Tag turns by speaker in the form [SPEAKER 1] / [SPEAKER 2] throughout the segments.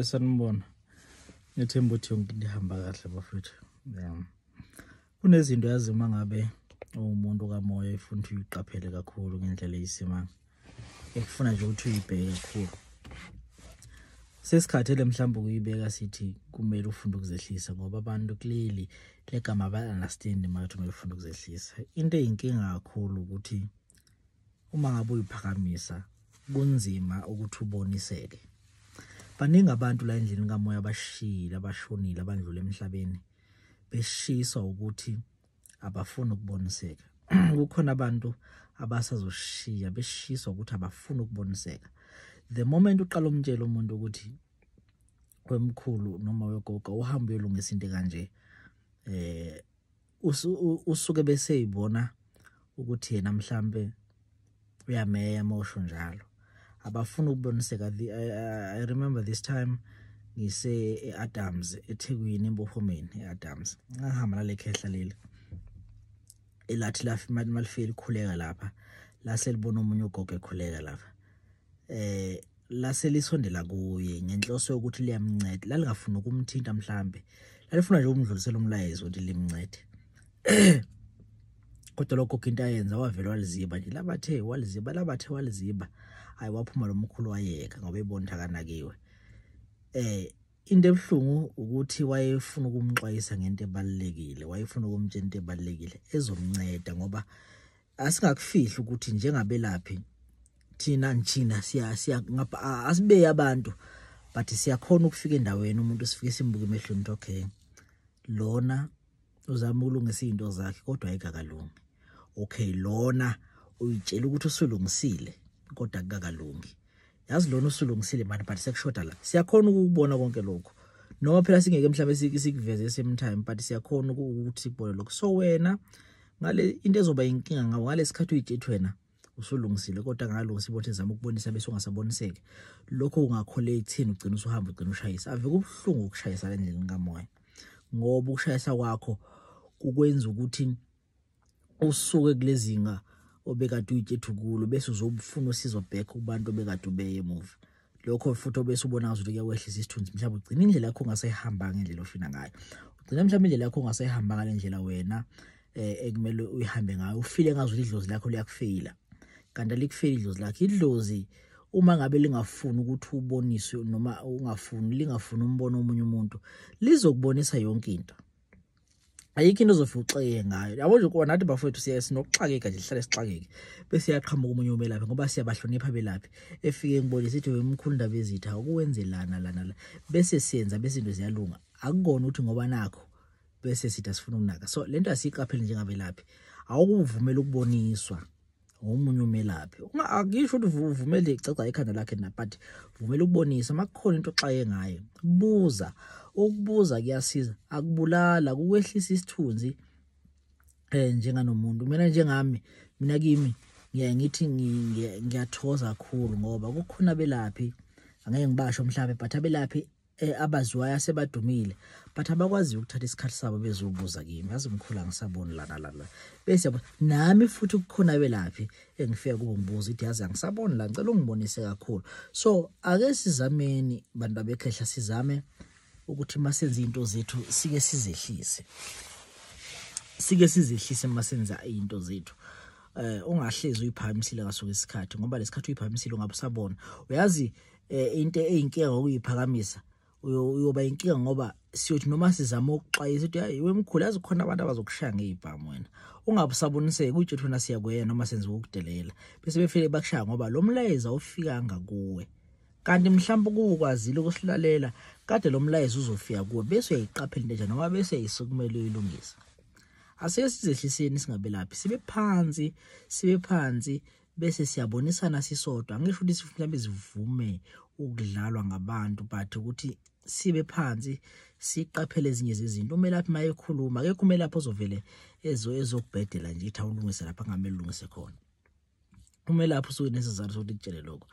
[SPEAKER 1] sanibona ngethemba ukuthi yonke into ihamba kahle bafethu um kunezinto yazi uma ngabe uwumuntu kamoya ifuna ukuthi uyiqaphele kakhulu ngendlela eyisimanga ekufuna nje ukuthi uyibheke kakhulu sesikhathele mhlawumbe ukuyibeka sithi kumele ufunde ukuzehlisa ngoba abantu clearly legama ba-understand mathi uma ufunde ukuzehlisa into eyinkinga kakhulu ukuthi uma ngabe uyiphakamisa kunzima ukuthi uboniseke baningi abantu la endlini kamoya abashiyile abashonile abandlule emhlabeni beshiswa ukuthi abafuni ukuboniseka kukhona abantu abasazoshiya beshiswa ukuthi abafuni ukuboniseka the moment uqala umtshela umuntu ukuthi wemkhulu noma wegogo uhamba uyolungisa into kanje eh usuke bese yibona ukuthi yena mhlambe uyameya mosho njalo abafuna ukuboniseka i remember this time ngise eAdams eThekwini embophomeni eAdams ngahamba nale khehla leli elathi lafi malifeli khuleka lapha lase libona umunye ugogo ekhuleka lapha eh lase lisondela kuye ngenhloso yokuthi liyamnceda lalingafuni ukumthinta mhlambe lalifuna nje ukumdlulisela umlayezo ukuthi limncede kodwa lokho kinto ayenza wavele waliziba nje labathe waliziba labathe waliziba hayi waphuma lo mkhulu wayeka ngoba ebona akanakiwe eh into ebuhlungu ukuthi wayefuna ukumxwayisa ngento ebalekile wayefuna ukumtshela into ebalekile ezomnceda ngoba asingakufihli ukuthi njengabelaphi thina njina siya siya ngapha asibe abantu but siyakhona ukufika endaweni umuntu sifike simbuke emehlweni ukuthi okay lona uzama ukulungisa izinto zakhe kodwa ayikakalungi okay lona uyitshela ukuthi usulungisile kodwa kukakalungi yazi lona usulungisile mani but sekushoda la siyakhona ukubona konke lokho noma phela singeke mhlawumbe sikuveze same time but siyakhona ukuthi sikubone lokho so wena ngale into ezoba inkinga ngawo ngalesikhathi uyijethi wena usulungisile kodwa ngalungisa ibothi zama ukubonisa bese ungasaboniseki lokho ungakhole ithini ugcina usuhamba ugcina ushayisa ave kubuhlungu ukushayisa lendlela kamoya ngoba ukushayisa kwakho kukwenza ukuthi usuke kulezinga obekade uyitshethu kulo bese uzobufuna usizo back kubantu obekade ubeye emuva lokho futhi obese ubona ngazuthi kuyakwehlisa isithunzi mhlawumbe ugcina indlela yakho ongasayihambanga ngendlela ofina ngayo ugcina mhlawumbe indlela yakho ongasayihambanga ngale ndlela wena eh ekumele uyihambe ngayo ufile ngazuthi idlozi lakho liyakufeyila kanti alikufeyili idlozi lakho idlozi uma ngabe lingafuni ukuthi uboniswe noma ungafuni lingafuni umbono omunye umuntu lizokubonisa yonke into ayikho into ozofe uxeke ngayo yabo nje kuba nathi bafowethu siyaye sinokuxakeka nje sihlale sixakeke bese yaqhamuka omunye umelaphi ngoba siyabahlonipha belaphi efike ngibone sithi wemkhulu ndaba ezitha ukuwenzelana lana la bese siyenza bese into ziyalunga akukona ukuthi ngoba nakho bese sithi asifuna ukunaka so lento asiyiqapheli njengabelaphi awukuvumela ukuboniswa ngomunye umelaphi akisho ukuthi uvumele igcagca ikhanda lakhe na but vumela ukubonisa makukhona into oxaye ngayo buza ukubuza kuyasiza akubulala kukwehlisa isithunzi eh njenganomuntu mina njengami mina kimi ngiyaye ngithi ngiyathoza kakhulu ngoba kukhona belaphi angeke ngibasho mhlawumbe but abelaphi eh, abaziwayo asebadumile but abakwazi ukuthatha isikhathi sabo bezobuza kimi yazi mkhulu angisaboni lana lana bese yabo, nami futhi kukhona belaphi engifika kubo ngibuza ithi yazi angisaboni la ngicela ungibonise kakhulu so ake sizameni bantu babekhehla sizame ukuthi masenze into zethu sike sizehlise sike sizehlise masenza into zethu eh ungahlezi uyiphakamisile kaso isikhathi ngoba lesikhathi uyiphakamisile ungabe usabona uyazi eh into eyinkinga ngokuyiphakamisa uyoba inkinga ngoba siyothi noma sizama ukuxwayisa ukuthi hayi wemkhulu yazi khona abantu abazokushaya ngeyibhamu wena ungabusaboniseki uthi thina siyakuyena noma senziwa ukudelela bese befike bakushaya ngoba lo mlayeza ofikanga kuwe kanti mhlawumbe ukukwazile ukusilalela kade lo mlayeza uzofika kuwe bese uyayiqaphela into enjani noma bese yisukumele uyilungisa asike sizehliseni singabelaphi sibe phansi sibe phansi bese siyabonisana sisodwa angisho ukuthi sifuna bezivume ukudlalwa ngabantu but ukuthi sibe phansi siqaphele ezinye zezinto umelaphi maye ekhuluma akekho umelaphi ozovele ezo ezokubhedela nje ithi awulungise lapha ngamele ulungise khona umelaphi usuke nesizathu sokuthi kutshele lokho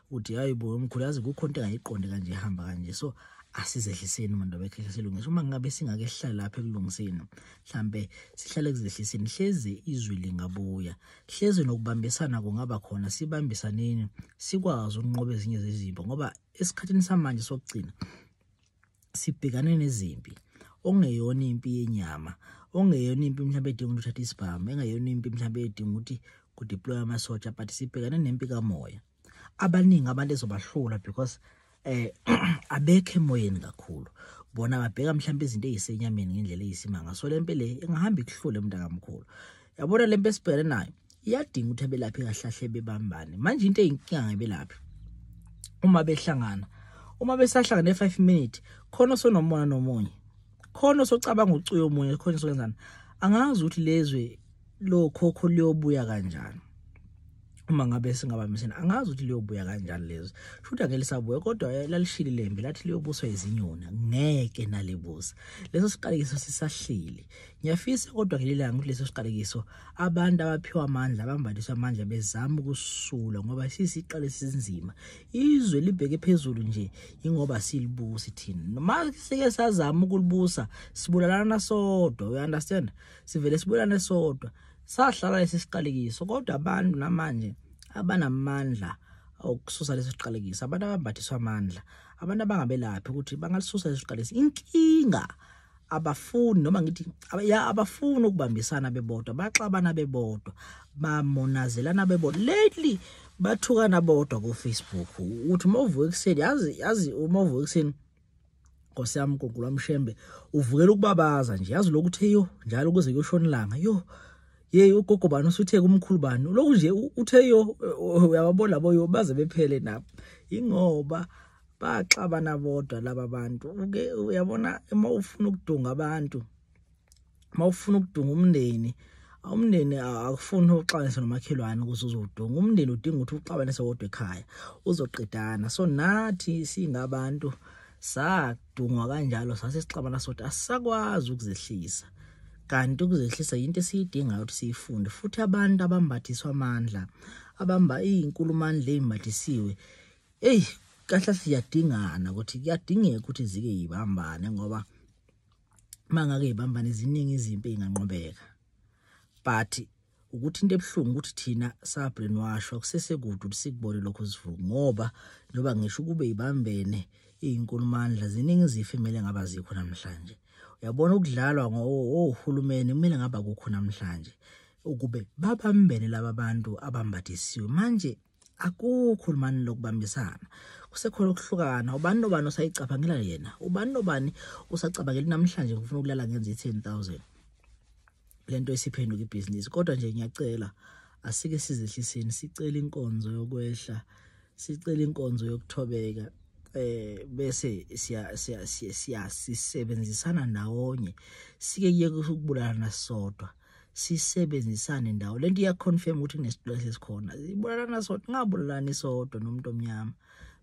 [SPEAKER 1] ukuthi hayi bo mkhulu yazi kukho into engayiqondi kanje ihamba kanje so asizehliseni umuntu abekhehla silungise uma ngabe singake sihlala lapha ekulungiseni mhlambe sihlale kuzehliseni hleze izwi lingabuya hleze nokubambisana kungaba khona sibambisaneni sikwazi ukunqoba ezinye zezimpi ngoba esikhathini samanje sokugcina sibhekane nezimpi ongeyona impi yenyama ongeyona impi mhlawumbe edinga ukuthi uthathe isibhamu engeyona impi mhlawumbe edinga ukuthi kudeploye amasotsha but sibhekane nempi kamoya abaningi abantu ezobahlula because eh abekhe emoyeni kakhulu bona babheka mhlawumbe izinto ezisenyameni ngendlela eyisimanga so lempe le ingahamba ikuhlule mntakamkhulu yabona lempe esibhekene nayo iyadinga ukuthi abelaphi kahlahle bebambane manje into eyinkinga ngebelaphi uma behlangana uma besahlangana e5 minute khona sonomona nomunye khona socabanga ucuyo omunye khona sokwenzana angazi ukuthi lezwe lo khokho liyobuya kanjani uma ngabe singabambisene angazi ukuthi liyobuya kanjani lezi futhi angeke lisabuya kodwa eh, lalishili lembi lathi liyobuswa izinyoni ngeke nalibusa leso siqalekiso sisahlili ngiyafisa kodwa ngelilanga ukuthi leso siqalekiso abantu abaphiwa amandla abambathiswa amandla bezama ukusula ngoba sisiqale sinzima izwe libheke phezulu nje ingoba silibusi thina noma sike sazama ukulibusa sibulalana sodwa we understand sivele sibulalane sodwa Sahlala lesi siqalekiso kodwa abantu namanje abanamandla okususa lesi siqalekiso abantu abambathiswa amandla abantu abangabelaphi ukuthi bangalisusa lesi siqalekiso inkinga abafuni noma ngithi ya abafuni ukubambisana bebodwa baxabana bebodwa bamonazelana bebodwa lately bathukana bodwa ku Facebook uthi uma uvuka ekuseni yazi yazi uma uvuka ekuseni Nkosi yami Gugula Mshembe uvukela ukubabaza nje yazi lokuthi yo njalo kuze kuyoshona ilanga yo yeyi ugogo bani usuthe kumkhulu bani lokhu nje uthe yo uyababona labo yo baze bephele nabo ingoba baxabana bodwa laba bantu uke uyabona uma ufuna ukudunga abantu mawufuna ukudunga umndeni umndeni akufuni uxabanise nomakhelwane ukuze uzodunga umndeni udinga ukuthi uxabanise wodwa ekhaya uzoqedana so nathi singabantu sadungwa kanjalo sase sixabana sothi asisakwazi ukuzehlisa kanti ukuzehlisa yinto esiyidingayo ukuthi siyifunde futhi abantu abambathiswa amandla abamba izinkulumandla ezimbathisiwe eyi kahle siyadingana ukuthi kuyadingeka ukuthi zike yibambane ngoba mangake ibambane ziningi izimpi enganqobeka but ukuthi into ebuhlungu ukuthi thina sabrin washwa kusesekude ukuthi sikubone lokho sivuku ngoba njengoba ngisho ukube ibambene iyinkulumandla ziningi izifo emele ngaba zikho namhlanje uyabona ukudlalwa ngohulumeni kumele ngaba kukho namhlanje ukube babambene laba bantu abambathisiwe manje akukho lumani lokubambisana kusekhona ukuhlukana ubani nobani osayicabangela yena ubani nobani usacabangela namhlanje ngifuna ukulala ngenza i-ten thousand le nto isiphenduka ibhizinisi kodwa nje ngiyacela asike sizehliseni sicele inkonzo yokwehla sicele inkonzo yokuthobeka eh bese siya siya siyasisebenzisana nawonye sike kuyeke ukubulala nasodwa siya, sisebenzisane ndawo lento iya confirm ukuthi kunesibulali esikhona ibulalana sodwa ngabulalani sodwa nomuntu omnyama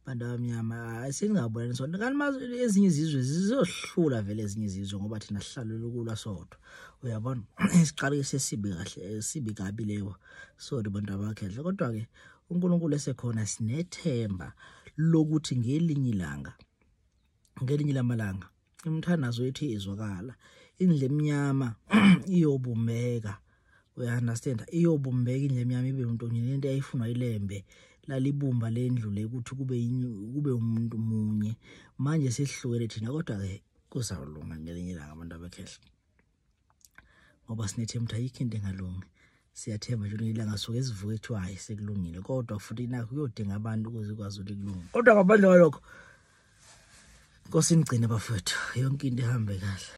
[SPEAKER 1] bantu abamnyama singabulalani sodwa kanti mazi ezinye izizwe zizohlula vele ezinye izizwe ngoba thina sihlalo lokulwa sodwa uyabona isiqalo sesibi kahle sibi kabi leyo sorry bantu abakhehle kodwa ke uNkulunkulu esekhona sinethemba lokuthi ngelinye ilanga ngelinye lamalanga imthandazo ethi izwakala indle emnyama iyobumbeka uyaunderstand iyobumbeka indle emnyama ibe mntonye lento eyayifunwa ilembe lalibumba lendlu le ukuthi kube kube umuntu munye manje sihlukene thina kodwa ke kuzawulunga ngelinye ilanga abantu abekhehla ngoba sinethemba ukuthi ayikho into engalungi siyathemba nje ukuthi ilanga suke sivuke kuthiwa hayi sekulungile kodwa futhi nakho kuyodinga abantu ukuze ikwazi ukuthi kulunge kodwa ngaphandle kwalokho nkosi inigcine bafowethu yonke into ihambe kahle